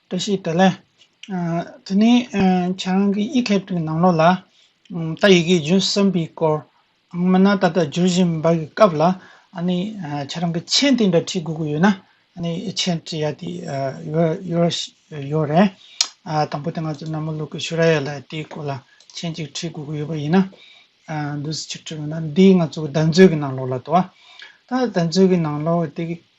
བཀྲ་ཤིས་བདེ་ལེགས། དེ་ནས་ཁྱེད་རང་གི་ཡིག་སྐད་དུ་ནང་ལོགས་ལ། རྟ་ཡི་གེ་བརྗོད་བསམ་པའི་སྐོར། མི་སྣ་ད་ལྟ་བརྗོད་བཞིན་པ་གི་སྐབས་ལ། ཁྱེད་རང་གི་མཆན་དེ་འདྲ་བྲིས་དགོས་ཀྱི་ཡོད་ན། མཆན་བྲིས་ཡ་དེ་ཡོད་རེད། དང་པོ་དེ་ང་ཚོ་ནམ་མོ་ལུག་གི་ཤུ་ར་ཡ་ལ་དེའི་སྐོར་ལ་མཆན་གཅིག་བྲིས་དགོས་ཀྱི་ཡོད་པ་ཡིན་ན། འདུག་ཕྱིར་བྲིས་དགོས་ན་འདི་ང་ཚོ་གདན་ཚོད་ཀྱི་ནང་ལོགས་ལ་འདུག་ཨ། ད་གདན་ཚོད་ཀྱི་ནང་ལོགས་དེ་གི་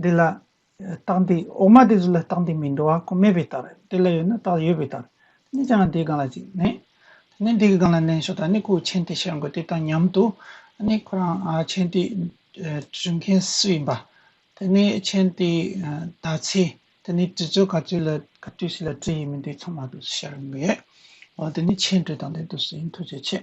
འདི་ལ། རྟགས་འདི་འོག་མ་དེ་ཚོ་ལ་རྟགས་འདི་མི་འགྲོ་བ་ཁོ་མེད་པའི་ལྟར་དེ་ལ་ཡོད་ན་རྟགས་ཡོད་པའི་ལྟར་གཉིས་ཀྱང་དེའི་སྒང་ལ་ཅིག་གནས། དེ་ནས་འདི་གི་སྒང་ལ་གནས་ཞོ་ད་ནི་ཁོའི་མཆན་དེ་ཤར་འགོད་དེ་དང་མཉམ་དུ་ནི་ཁོ་རང་མཆན་དེ་བྲི་མཁན་སུ་ཡིན་པ། དེ་ནི་མཆན་དེ་ད་ཚེ་དེ་ནི་བྲི་ཚོད་ག་ཚོད་ལ་ག་དུས་ཤིག་ལ་བྲི་ཡི་མིན་དེ་ཚང་མ་དུ་ཤར་འགོད། འོ་དེ་ནི་མཆན་བྲི་སྟངས་དེ་དུ་སུ་ཡིན་ཐུགས་རྗེ་ཆེ།